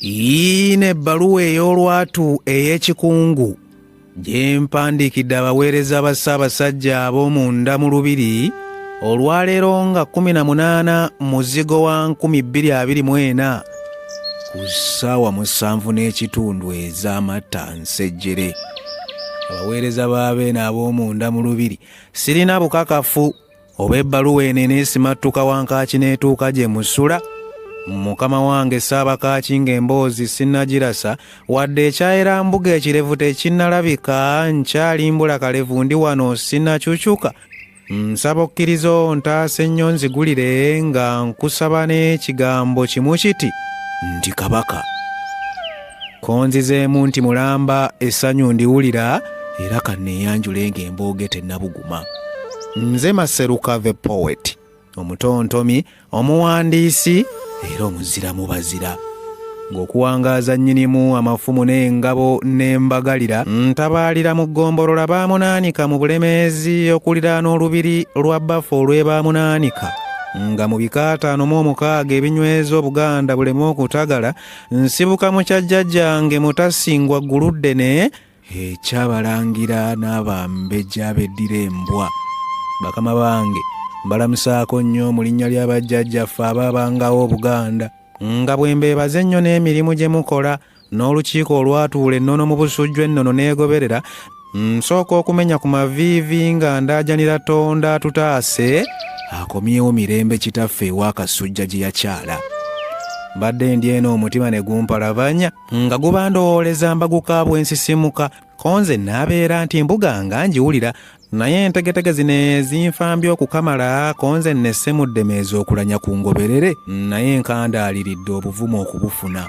yiina ebbaluwa ey'olwatu ey'ekikungu gye mpandiikidde abaweereza ba ssaabasajja ab'omunda mu lubiri olwaleero nga 18 muzigo wa 224 ku ssaawa musanvu n'ekitundu ez'amatta nsejjere abaweereza b'abeene ab'omunda mu lubiri sirina bukakafu oba ebbaluwa eno eneesimattuka wankaaki n'etuuka gye musula mukama wange saabakaaki ng'emboozi sinnagirasa wadde ekyayera mbuga ekirevu tekinnalabika nkyalimbula kalevu ndi wano sinnakyukyuka nsaba okkiriza ontaasa ennyo nzigulire nga nkusaba n'ekigambo kimu kiti ndi kabaka konzizeemu nti mulamba essanyu ndiwulira era kanneeyanjule ng'embooge tennabuguma nze maseruka the poet omutontomi omuwandiisi era omuzira mu bazira ng'okuwangaaza nnyinimu amafumu n'engabo n'embagalira ntabaalira mu ggombolola baamunaanika mu bulemeezi okuliraana olubiri lwa bafa olw'ebaamunaanika nga mu bikaataano mu omukaaga ebinyweza obuganda buleme okutagala nsibuka mu kya jjajjange mutasingwa gguluddene ekyabalangira n'abambeja beddira embwa bakama bange mbalamusaako nnyo mu linnya lya bajjajjaffe abaabangawo obuganda nga bwe mbeebaza ennyo n'emirimu gye mukola n'olukiiko olwatuula ennono mu busujju ennono n'egoberera nsooka okumenya ku maviivi nga ndaajanira tonda atutaase akomyewo mirembe kitaffe ew'akasujja gye yakyala mbadde ndi eno omutima ne gumpalabanya nga guba ndowooleza mbaguka bwensisimuka ko nze naabeera nti mbuga nga ngiwulira naye entegetege zino ezinfambye okukamala ko nze nnesse mu ddeme ez'okulanya ku ngoberere naye nkandaaliridde obuvumu okubufuna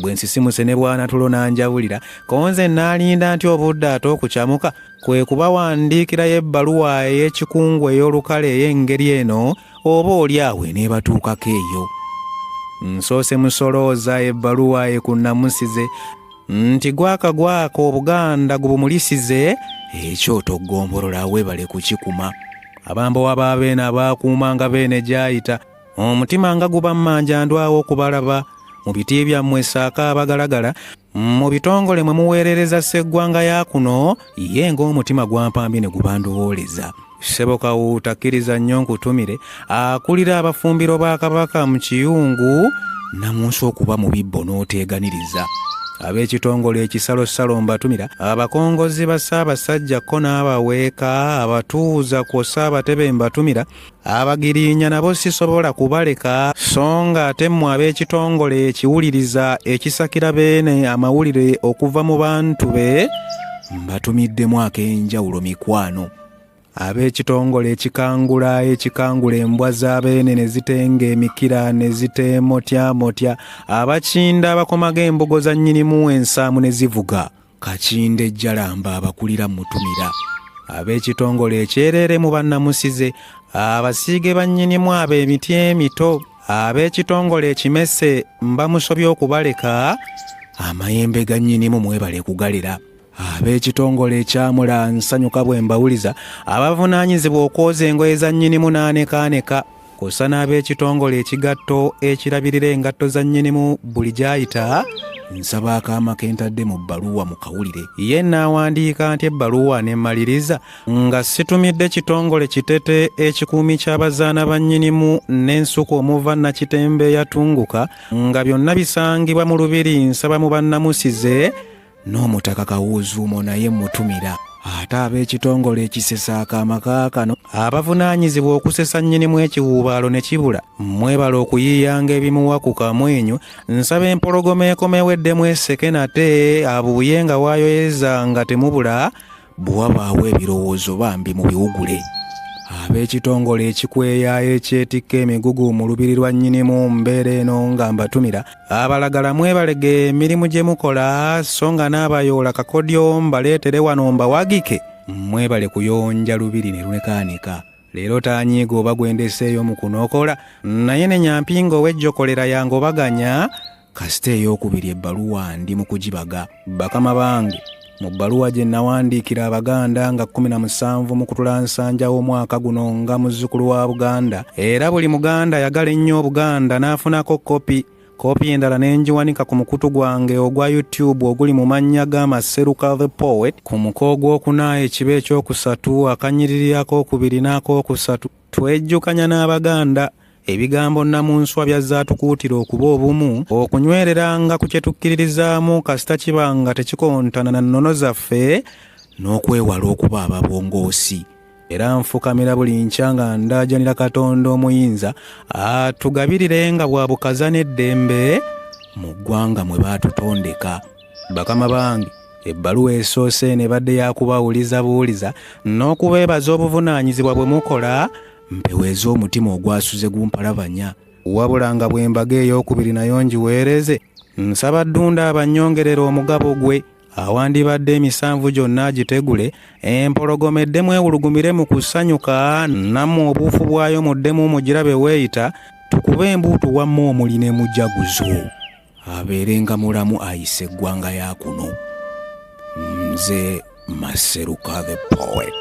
bwe nsisimuse ne bwanatulo n'anjawulira konze naalinda nti obudde ate okucamuka kwe kubawandiikirayo ebbaluwa ey'ekikungu ey'olukale ey'engeri eno oba oli awo eneebatuukako eyo nsoose musolooza ebbaluwa ekunnamusize nti gwaka gwaka obuganda gubumulisize ekyoto ggombolola weebale kukikuma abambowa ba beene abaakuumanga beene gyayita omutima nga guba mmanja ndwawo okubalaba mu biti byammwe saako abagalagala mu bitongole mwe muweerereza sseggwanga ya kuno ye ng'omutima gwampambye ne gubandowooleza ssebo kawuuta kkiriza nnyo nkutumire akulira abafumbiro ba kabaka mu kiyungu namunsi okuba mu bibbo n'oteeganiriza ab'ekitongole ekisalosalo mbatumira abakongozi ba ssaabasajja ko n'abaweeka abatuuza kwossa abatebe mbatumira abagirinya nabo sisobola kubaleka so nga ate mmwe ab'ekitongole ekiwuliriza ekisakira beene amawulire okuva mu bantu be mbatumiddemu ak'enjawulo mikwano ab'ekitongole ekikangula ekikangula embwa z'abeene ne zitenga emikira ne ziteemotyamotya abakinda abakomaga embugo za nnyinimu ensaamu ne zivuga kakinde jalamba abakulira mutumira ab'ekitongole ekyereere mu bannamusize abasiige bannyinimu abo emiti emito ab'ekitongole ekimese mbamusobya okubaleka amayembe ga nnyinimu mwebale kugalira ab'ekitongole ekyamula nsanyuka bwe mbawuliza abavunaanyizibwa okwoza engoye za nnyinimu n'anekaaneka kwossa n'ab'ekitongole ekigatto ekirabirira engatto za nnyinimu buli gy'ayita nsaba akaama ke ntadde mu bbaluwa mu kawulire ye naawandiika nti ebbaluwa ne mmaliriza nga situmidde kitongole kitete ekikuumi ky'abazaana ba nnyinimu n'ensuku omuva nakitembe yatunguka nga byonna bisangibwa mu lubiri nsaba mu bannamusize n'omutaka kawuuzuumo naye mmutumira ate ab'ekitongole ekisesa akaama kaakano abavunaanyizibwa okusesa nnyinimu ekiwuubaalo ne kibula mwebala okuyiiyanga ebimuwa ku kamwenyu nsaba empologoma ekomewo eddemu eseke nate abuuye nga waayoyeza nga temubula bwe wabaawo ebirowoozo bambi mu biwugule ab'ekitongole ekikweya ekyetikka emigugu mu lubiri lwa nnyinimu mbeera eno nga mbatumira abalagala mwebalege emirimu gye mukola so nga n'abayoola kakodyo mbaleetere wano mbawagike mwebale kuyonja lubiri ne lwekaanika leero tanyiiga oba gwendeseeyo mu kunokola naye ne nyampinga ow'ejjokolera yange obaganya kasita ey'okubiri ebbaluwa ndi mu kugibaga bakama bange mu bbaluwa gye nawandiikira abaganda nga 17 mu kutula nsanja w'omwaka guno nga muzzukulu wa buganda era buli muganda yagala ennyo obuganda n'afunako kopi kopi endala ne ngiwanika ku mukutu gwange ogwa youtube oguli mu mannya ga maseruka the poet ku muko ogw'okuna ekiba ekyokusatu akanyiriri ak'okubiri n'ak'okusatu twejjukanya n'abaganda Ebigambo nnamunswa byazzaatukuutira okuba obumu, okunywereranga ku kye tukkiririzaamu kasita kiba nga tekikontana na nnono zaffe n'okwewala okuba ababongoosi. Era nfukamira buli nkya nga ndaajanira Katonda omuyinza atugabirire nga bwa bukaza n'eddembe mu ggwanga mwe baatutondeka. Bakama bange ebbaluwa esoose eno ebadde yakubawuliza buwuliza n'okubeebaza obuvunaanyizibwa bwe mukola mpeweeza omutima ogwasuze gumpalabanya wabula nga bwembaga eyokubiri nayo ngiweereze nsaba ddunda abanyongerera omugabo gwe awandibadde emisanvu gyonna agitegule empologoma eddemu ewulugumire mu kusanyuka namu obuufu bwayo muddemu mugirabe weeyita tukube embuutu wamma omuli ne mujaguzo abeerenga mulamu ayise eggwanga ya kuno nze maseruka the poet